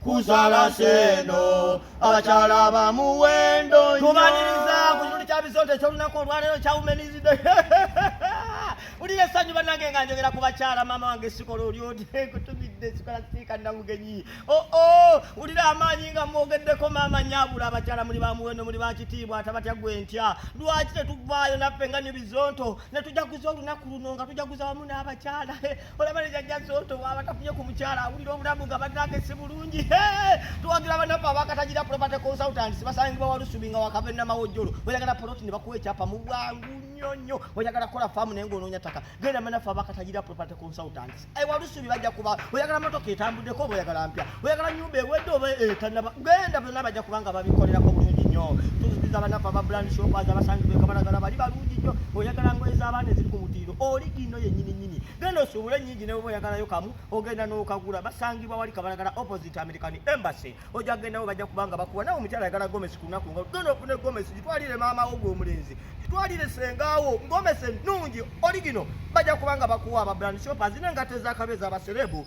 kuzala seno abakyala bamuwendo tubaniriza ku kitundi kya bisonto ekyolunaku olwaleero kya womenizi day ulira essanyu bannange nga njogera ku bakyala maama wange sikola oli oti kutumidde sikola siika namugenyi oo oh, oh, ulira amaanyi nga mwogeddeko maama nyabula abakyala muli bamuwendo muli bakitiibwa atabatya gwe ntya lwaki tetuvaayo naffe nga nyo bizonto ne tujaguza olunaku luno nga tujaguza wamu n'abakyala olaba ne jajja zoto bwaba tafunye ku mukyala awulira obulamu nga bannange si bulungi tuwagira banaffe abakatagira property consultants basangibwa walusubi nga wakava enamawojjolo oyagala poloti ne bakuwa ekyapa mu bwangu nnyo nnyo oyagala kukola faamu naye ngaonoonya ttaka genda banaffe abakatagira property consultants ewalusubi bajja kuba oyagala motoka etambuddeko oba oyagala mpya oyagala nyumba ewedde oba etanaba eh, genda byonna bajja kubanga babikolerako bulungi nnyo tuzikiza banafe aba brand shop aza basangibwa ekabalagala bali balungi nnyo oyagala ngoye z'abaana eziri ku mutiiro oli gino yennyini nyini genda osuubule ennyingi newe oyagalayo kamu ogenda n'okagula basangibwa wali kabalagala opposite american embassy ojja kugendawo bajja kubanga bakuwa nawe omukyala ayagala gomesi ku lunaku nga genda ofune gomesi gitwalire maama wo gw'omulenzi gitwalire sengaawo gomesi ennungi oli gino bajja kubanga bakuwa aba brand shop azina engato ez'akabe z'abaserebu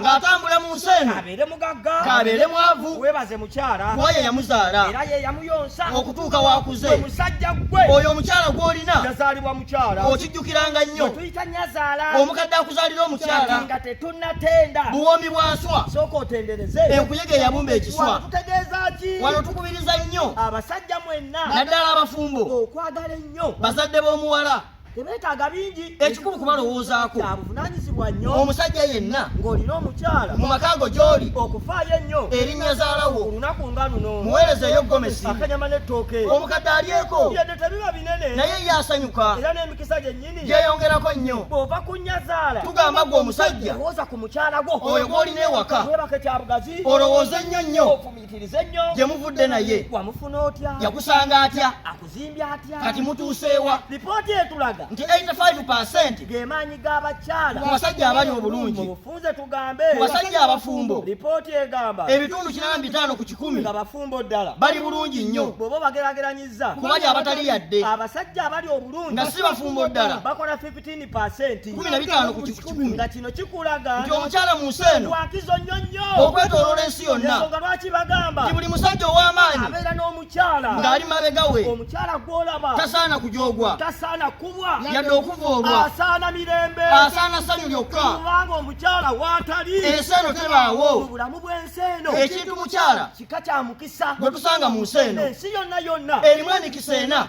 ng'atambula mu nsi eno abeere mugagga k'abeere mwavu weebaze mukyala gwoyo yamuzaala era ye yamuyonsa okutuuka wakuze omusajja gwe oyo omukyala gw'olina yazaalibwa mukyala okijjukiranga nnyo tuyita nyazaala omukadde akuzaalira omukyala nga tetunnatenda buwoomi bwaswa sooka otendereze enkuyege eyabumba ekiswa tutegeeza ki wano tukubiriza nnyo abasajja mwenna naddala abafumbo okwagala ennyo bazadde b'omuwala tebeetaaga bingi ekikulu kubalowoozaako kyabuvunanyizibwa nnyo omusajja yenna ng'olina omukyala mu makaago gy'oli okufaayo ennyo erinnya zaalawo olunaku nga luno muweereza eyo gomesi akanyama n'ettooke omukadde alyeko yadde tebiba binene naye ye asanyuka era n'emikisa gyennyini gyeyongerako nnyo bw'ova ku nnya zaala tugamba gwe omusajja lowooza ku mukyala gwo oyo gw'olina ewaka webake kya bugazi olowooze nnyo nnyo ofumiitirize nnyo gye muvudde naye wamufuna otya yakusanga atya kati mutuuseewa lipooti etulaga nti 85 gemaanyi g'abakyala ku basajja abali obulungi mubufunze tugambe ku basajja abafumbo lipooti egamba ebitundu kinana bitaano ku kikumi nga bafumbo ddala bali bulungi nnyo bwoba bagerageranyizza kubali abatali yadde abasajja abali obulungi nga si bafumbo ddala bakola 15 kumi na bitaano ku kikumi nga kino kikulaga nti omukyala mu nsi eno wakizo nnyo nnyo okwetoloola ensi yonna ensonga lwaki bagamba nti buli musajja ow'amaanyi abeera n'omu ng'ali mabega we omukyala gw'olaba tasaana kujogwa tasaana kubwa yadde okuvoolwa asaana mirembe asaana ssanyu lyokka kubanga omukyala waatali ensi eno tebaawo mu bulamu bw'ensi eno ekintu mukyala kika kya mukisa gwe tusanga mu nsi eno ensi yonna yonna erimu emikisa ena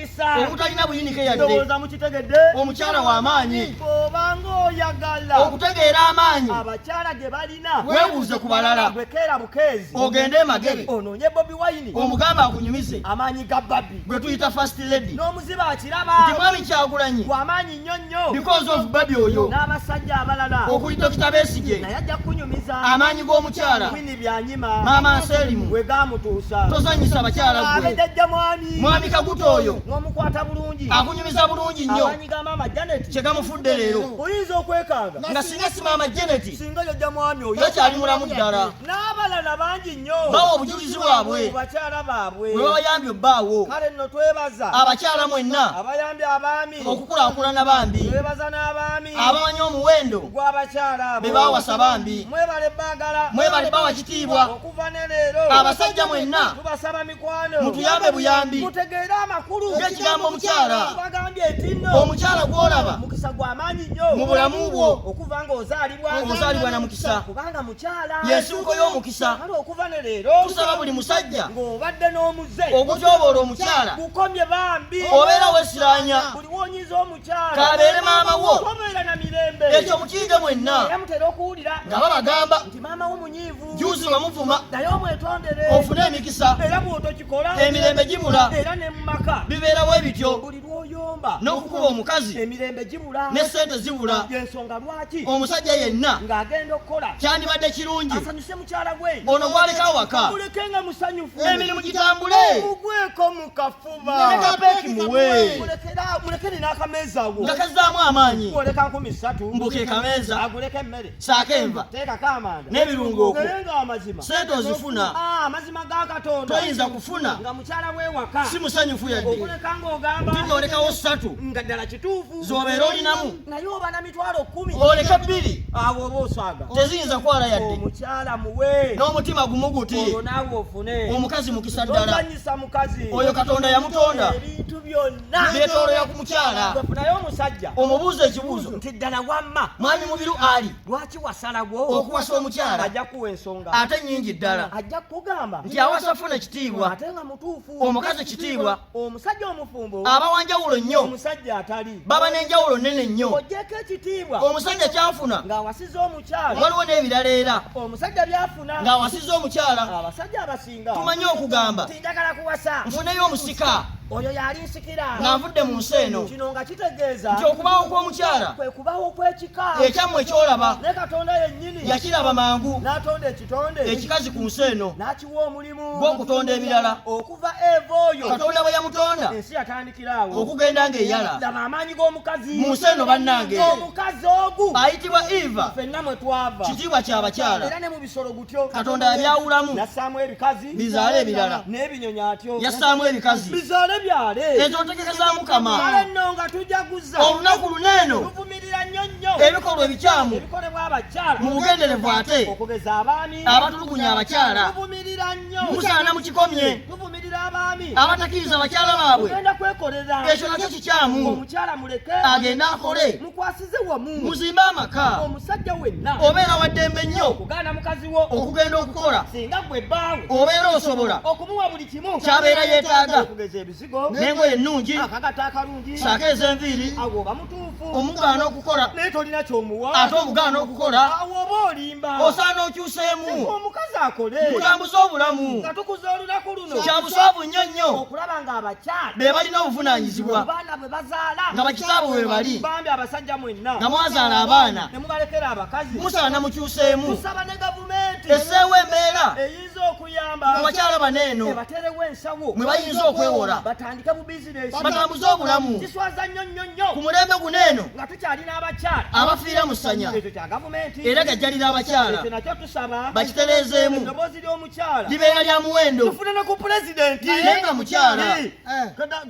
obutalina buyinike yadde ndowooza mukitegedde omukyala w'amaanyi obanga oyagala okutegeera amaanyi abakyala ge balina weebuuze ku balala bwekeera bukeezi ogende emagere onoonye bobi wayini omugamba akunyumize amaanyi ga babi gwe tuyita fast lady n'omuziba akiraba nti mwami kyagulanyi wamaanyi nnyo nnyo because of babi oyo n'abasajja abalala okuli dokita besigye naye ajja kunyumiza amaanyi g'omukyala wini byanyima maama nselimu we gaamutuusa tozanyisa bakyala gwe abedejja mwami mwami kaguta oyo n'omukwata bulungi akunyumiza bulungi nnyo amaanyi ga maama janet kye gamufudde leero oyinza okwekanga nga singa si maama janet singa yojja mwami oyo takyali mulamu ddala n'abalala bangi nnyo bawa obujulizi bwabwe bakyala baabwe bwe babayambye obbaawo kale nno twebaza abakyala mwenna abayambye abaami okukulakulana bambi bebaza n'abaami abamanyi omuwendo gw'abakyala abo be baawasa bambi mwebale baagala mwebale bawa kitiibwa okuva ne leero abasajja mwenna tubasaba mikwano mutuyambe buyambi mutegeere amakulu g'ekigambo omukyala tubagambye nti nno omukyala gw'olaba mukisa gw'amaanyi nnyo mu bulamu bwo okuva ng'ozaalibwa ozaalibwa na mukisa kubanga y'ensibuko y'omukisa kale okuva ne leero tusaba buli musajja ng'obadde n'omuze okutyoboola omukyala gukomye bambi obeera wesiranya buli wonyiza omukyala kabeere maama wo obeera na mirembe ekyo mukiyige mwenna era mutera okuwulira nga babagamba nti maama wo munyiivu juzi nga muvuma naye omwetondere ofune emikisa era bw'otokikola emirembe gibula era ne mu maka bibeerawo ebityo lwoyomba n'okukuba omukazi emirembe gibula ne ssente zibula yensonga lwaki omusajja yenna ng'agenda okukola kyandibadde kirungi asanyuse mukyala gwe ono gwaleka awaka muleke nga musanyufu emirimu gitambule mugweko mu kafuba nekapeeki muwe mulekere n'akameeza wo nga kazzaamu amaanyi oleka nkumi ssatu mbuka ekameeza aguleko emmere saako enva teekako amanda n'ebirungo okwo naye nga amazima sente ozifuna ah, amazima ga katonda toyinza kufuna nga mukyala w'ewaka si musanyufu yadde okuleka ng'ogamba nti olekawo ssatu nga ddala kituufu z'obeera olinamu naye oba na mitwalo kkumi oleka bbiri awo oba oswaga teziyinza kwala yadde omukyala muwe n'omutima gumu guti olwo naawe ofune omukazi mukisa ddala oyo katonda yamutonda ebintu byonna beetoolola ku mukyala naye omusajja omubuuza ekibuuzo nti ddala wamma mwami mubiru ali lwaki wasalawo okuwasa omukyala ajja kuwa ensonga ate nyingi ddala ajja kugamba nti awasa funa kitiibwa ate nga mutuufu omukazi kitiibwa omusajja omufumbo aba wanjawulo nnyo omusajja atali baba n'enjawulo nnene nnyo ogyeko ekitiibwa omusajja kyafuna ng'awasiza omukyala waliwo n'ebirala era omusajja byafuna ng'awasiza omukyala abasajja abasi tumanyi okugamba tinjagala kuwasa nfuneyo omusika oyo yali nsikira nga nvudde mu nsi eno kino nga kitegeeza nti okubaawo kw'omukyala kwe kubaawo kw'ekika ekyammwe kyolaba ne katonda yennyini yakiraba mangu n'atonda ekitonde ekikazi ku nsi eno n'akiwa omulimu gw'okutonda ebirala okuva eva oyo katonda bwe yamutonda ensi yatandikiraawo okugenda ng'eyala laba amaanyi g'omukazi mu nsi eno bannange omukazi ogu ayitibwa eva fenna mwe twava kitiibwa ky'abakyala era ne mu bisolo katonda yabyawulamu yassaamu ebikazi bizaale ebirala n'ebinyonyi atyo yassaamu ebikazi bizaale byale ezo ntegeka za mukama kale nno nga tujaguza olunaku luneeno tuvumirira nnyo nnyo ebikolwa ebikyamu ebikolebwa abakyala mu bugenderevu ate okugeza abaami abatulugunya abakyala tuvumirira nnyo musaana mu kikomye tuvumirira abaami abatakiriza bakyala baabwe ogenda kwekolera ekyo nakyo kikyamu omukyala muleke agende akole kwasize wamu muzimbe amaka omusajja wenna obeera waddembe nnyo okugaana mukazi wo okugenda okukola singa gwe bbaawe obeera osobola okumuwa buli kimu kyabeera yeetaaga okugeza ebizigo n'engoye ennungi akagata akalungi saako ez'enviiri awo oba mutuufu omugaana okukola naye tolina kyomuwa ate omugaana okukola awo oba olimba osaana okyuseemu omukazi akole mutambuze obulamu nga tukuza olunaku luno kya buswavu nnyo nnyo okulaba ng'abakyala be balina obuvunaanyizibwa nga bakitaabwe bwe bali nga mwazaala abaana musaba ne mukyuseemu esseewo embeera mu bakyala bano eno mwe bayinza okwewola batambuze obulamu ku mulembe guno eno abafiira mu ssanya era gajjalira abakyala bakitereezeemu libeera lya muwendo naye nga mukyala